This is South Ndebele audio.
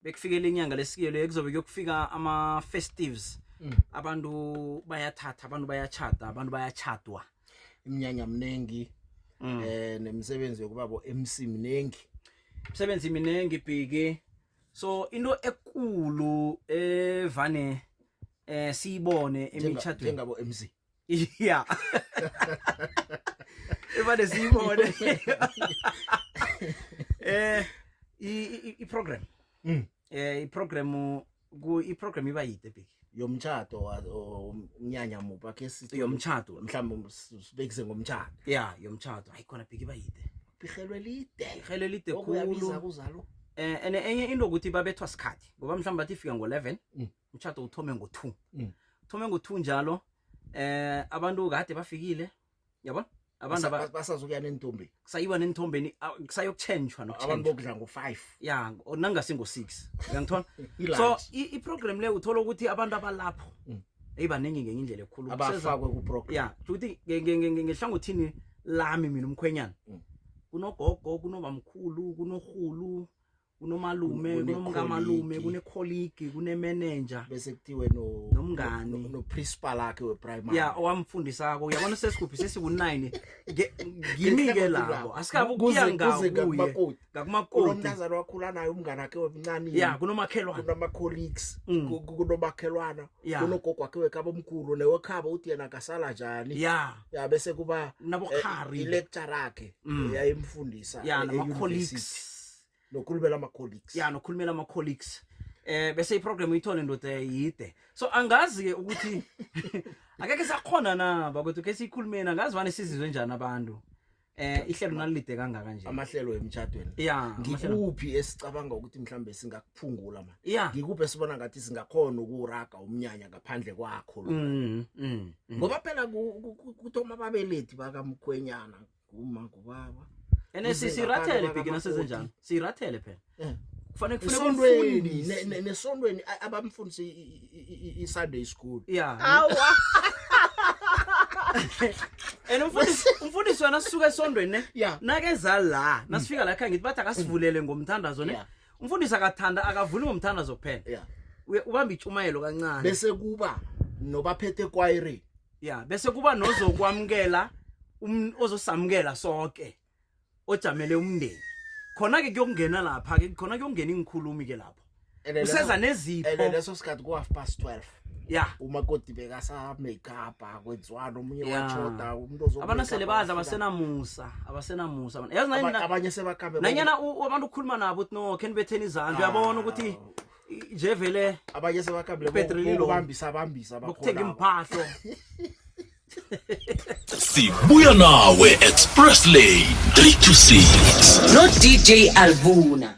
bekufike lenyanga lesikelo ekuzobe kuyokufika ama-festives mm. abantu bayathatha abantu bayatshada abantu bayatshadwa iminyanya mningi um mm. eh, nemisebenzi yokuba bo-mc mningi imisebenzi miningi bhiki so into ekulu evane eh, eh siyibone emitshatweni njengabo-mc Yeah. Evane siyibone. Eh i i program. Mm. Eh i program ku i program iba yide big. Yomtchado umnyanya mupa ke sithi yomtchado mhlawumbe sibekise ngomtchado. Yeah, yomtchado. Hayi khona big iba yide. Bihelwe lide. Bihelwe lide khulu. Okuyabiza kuzalo. Eh ene enye into ukuthi babethwa sikhathi ngoba mhlawumbe bathi ifika ngo-11. Mm. utshato uthome ngo-two mm. uthome ngo-two njalo eh abantu kade bafikile yabo abantu basazokuya nentombi kusayiwa nenthombeni kusayokutshentshwa nokuabantu bokudla ngo-five ya nangasi ngo-six uyangithola so iprogram le uthola ukuthi abantu abalapho mm. eyibaningi ngenye indlela ekhulu abafakwe kuprogram ya ukuthi ngehlangothini lami mina umkhwenyana mm. kunogogo kunobamkhulu kunorhulu kunomalume Kune- kunomkamalume kunekholigi. kunekholigi kunemenenja bese kuthiwe no Nomngani. no- noprincipal akhe weprimary ya owamfundisako uyabona sesikuphi sesiku-nine Nge- ngimi-ke labo asikabe ukuya Kuze- kuze ngakuye ngakumakoti. ngakumakoti kunomntazana wakhula naye umngane wakhe wemncane ya kunomakhelwana kunama-colleagues Mm. ku- ku- kunomakhelwana Ya. kunogogo wakhe wekhaba omkhulu newekhaba uthi yena akasala njani ya ya bese kuba nabokhari ilecture akhe Mm. yayimfundisa ya e- e-university. nama-colleagues nokhulumela ama-colleagues ya nokhulumela ama-colleagues eh bese iprogram uyithole ndoda yide so angazi ke ukuthi akekhe sakhona na bakwethu ke siyikhulumeni angazi vane sizizwe njani abantu eh ihlelo nalilide kangaka nje amahlelo emtshadweni ya ngikuphi esicabanga ukuthi mhlambe singakuphungula ma ya ngikuphi esibona ngathi singakhona ukuraga umnyanya ngaphandle kwakho lo mm, mm, mm. ngoba phela kuthoma ababelethi bakamkhwenyana kuma kubaba ene sirathele bhekina sezenjani sirathele phela eh. kufanele kufunekufundise nesondweni abamfundise i-sunday school ya and umfundisi wena sisuka esondweni ne nakeza la nasifika la khangithi bathi akasivulele ngomthandazo ne umfundisi akathanda akavuli ngomthandazo kuphela yeah Uye- ubamba itshumayelo kancane bese kuba nobaphethe ekwayireni ya bese kuba nozokwamukela um- ozosamukela sonke ojamele umndeni khona-ke kuyokungena lapha-ke khona kuyokungena iingikhulumi-ke lapho And then useza leso- and then nezipho leso sikhathi ku-half past 12 ya umakoti bekasamake up akwenziwani omunye Ya. watshoda umuntu ozo- abantu sele badla abasenamusa abasenamusa abantu. yazi Aba- nanyana- abanye sebakhambe nanyana u- abantu ukhuluma nabo uthi no khe nibetheni izandla uyabona ukuthi i- nje vele abanye sebakhambile Ipetroli lo. bambisa bambisa bokuthenga iimphahlo sibuya nawe express lane 3 to 6 no DJ Alvuna.